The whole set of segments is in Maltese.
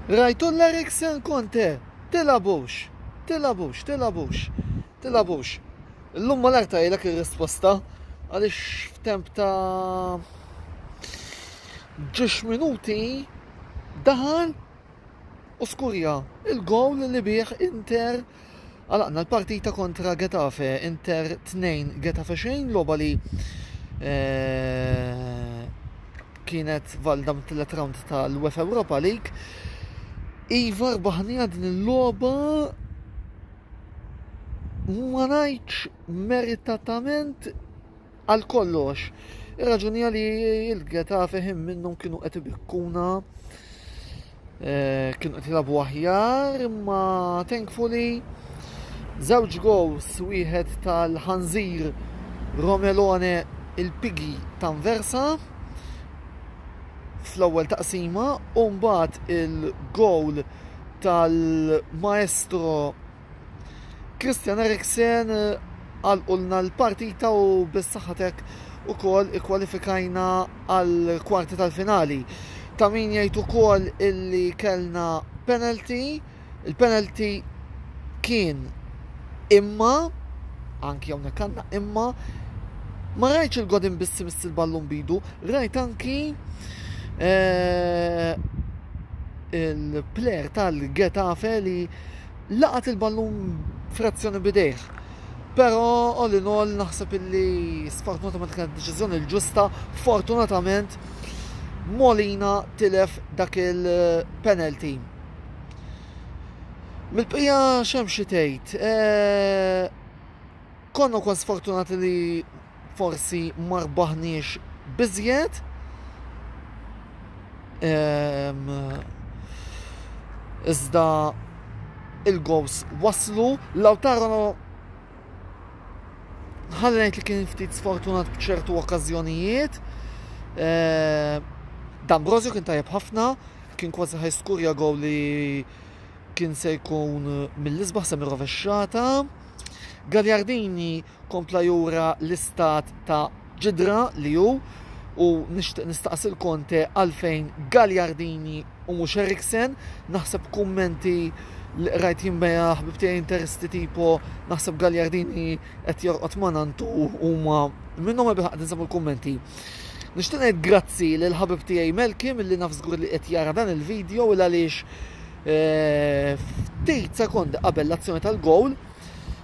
Rajtu l-Eriksen Conte? Tilgħabux! Tilgħabux! Tilgħabux! Tilgħabux! Illum mal-arta jgħidlek ir-risposta għaliex f'temp ta' ġiex minuti daħal u skurja il-gowl li bih Inter Għalaqna l-partita kontra Getafe, Inter 2 Getafe xejn, logħba li eh, kienet valda mit-tielet round tal-UEFA Europa League. Iva rbaħnija din il-logħba ma ngħidx meritatament Għal kollox, ir-raġuni għali il-Getafe ħin minnhom kienu qed ibikkuna eh, kienu qed jilagħbu aħjar, imma thankfully żewġ gows wieħed tal-ħanżir Romelone il-pigi tanversa fl-ewwel taqsima u mbagħad il-gowl tal-maestro Christian Eriksen għalqulna l-partita u bis-saħħatek ukoll ikkwalifikajna għal kwarti tal-finali. Ta' min jgħid ukoll illi kellna penalty, il-penalty kien imma anki hawnhekk għandna imma ma rajtx il-godin bissi miss il-ballun bidu, rajt anki eh, il-player tal-Getafe li Laqat il-ballun frazzjoni b'idejh, però all in all naħseb illi sfortunatament kienet deċiżjoni l-ġusta, fortunatament Molina tilef dak il-penalty. Mill-bqija x'hemm xi tgħid, konna wkoll sfortunati li forsi ma rbaħniex biżjed, iżda il-gowls waslu, Lautaro ħalli ngħid li kien ftit sfortunat b'ċertu okkażjonijiet. D'Ambrosio kien tajjeb ħafna, kien kważi ħaj skurja gowl li kien se jkun mill-isbaħ se rovexxata. Gagliardini kompla jura l-istat ta' ġidra li hu u nixtieq nistaqsi l-Conte għalfejn Gagliardini u mhux Eriksen. Naħseb kummenti li qrajt jien bejha ħbib tiegħi Interisti tipo naħseb Gagliardini qed jorqod ma' nantu huma minnhom ebda qed insabu l-kummenti. Nixtieq ngħid grazzi lil ħabib tiegħi Melki milli naf żgur li qed jara dan il-video il għaliex eh, ftit sekondi qabel l-azzjoni tal-gowl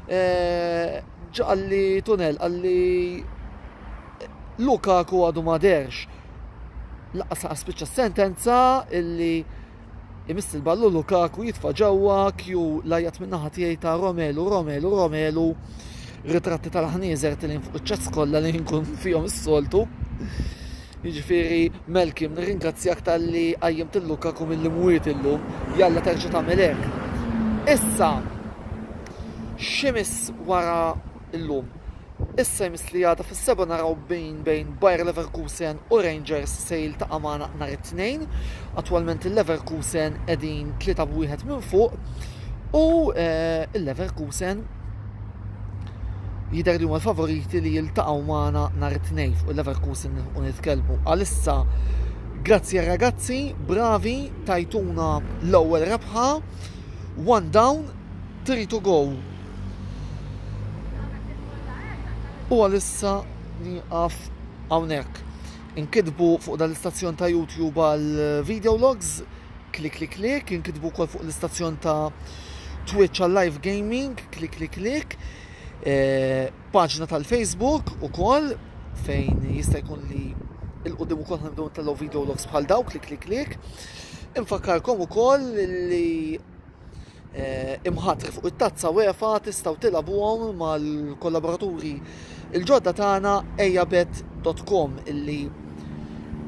Ġa qalli Tunnell, qalli Lukaku għadu ma derx. Laqqas laqqas spiċċa s-sentenza illi imiss il-ballu Lukaku jitfa' ġewwa kju lajjat min-naħa tiegħi ta' Romelu, Romelu, Romelu ritratti tal-ħnieżer tilin fuq iċ-ċats kollha li nkun fihom is-soltu. Jiġifieri Malcolm nirringrazzjak talli qajjimt lil Lukaku mill-imwiet illum, jalla terġa' tagħmel hekk. Issa x'imiss wara llum? Issa jmiss li għada fis-sebgħa naraw min bejn Bayer Leverkusen u Rangers se jiltaqa' magħna nhar it-Tnejn. Attwalment il-Leverkusen qegħdin tlieta b'wieħed minn fuq u l-Leverkusen Jidher li huma l-favoriti li jiltaqgħu magħna nhar it-Tnejn fuq il-Leverkusen nilħqu nitkellmu. Għalissa Grazzi ragazzi, bravi, tajtuna l-ewwel rebħa. One down, three to go. U għalissa niqaf hawnhekk. Inkidbu fuq dal-istazzjon ta' YouTube għal video logs klikklikklikk, inkitbu wkoll fuq l-istazzjon ta' Twitch għal live gaming, klikklikklikk, eh, paġna tal-Facebook ukoll fejn jista' jkun li il-qudiem ukoll ħanibdew nitellgħu video logs bħal daw klikklikklikk. Infakkarkom ukoll li imħattri fuq it-tazza UEFA tistgħu tilgħabuhom mal-kollaboraturi il-ġodda tagħna ejabet.com illi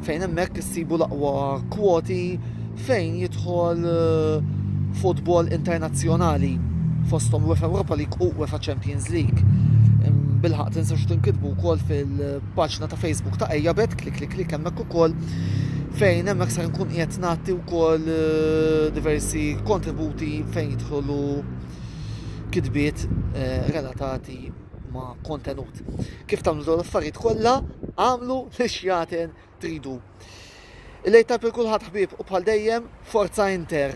fejn hemmhekk issibu l-aqwa kwoti fejn jidħol eh, futbol internazzjonali fosthom UEFA Europa League u UEFA Champions League. Bilħaq tinsux tinkitbu wkoll fil-paġna ta' Facebook ta' Ejabet, klik klik klik hemmhekk ukoll fejn hemmhekk se nkun qiegħed nagħti wkoll eh, diversi kontributi fejn jidħolu kitbiet eh, relatati ma' kontenut. Kif tagħmlu dawn l-affarijiet kollha, għamlu li xjaten tridu. Il-lejta per kulħadd ħbib u bħal dejjem Forza Inter.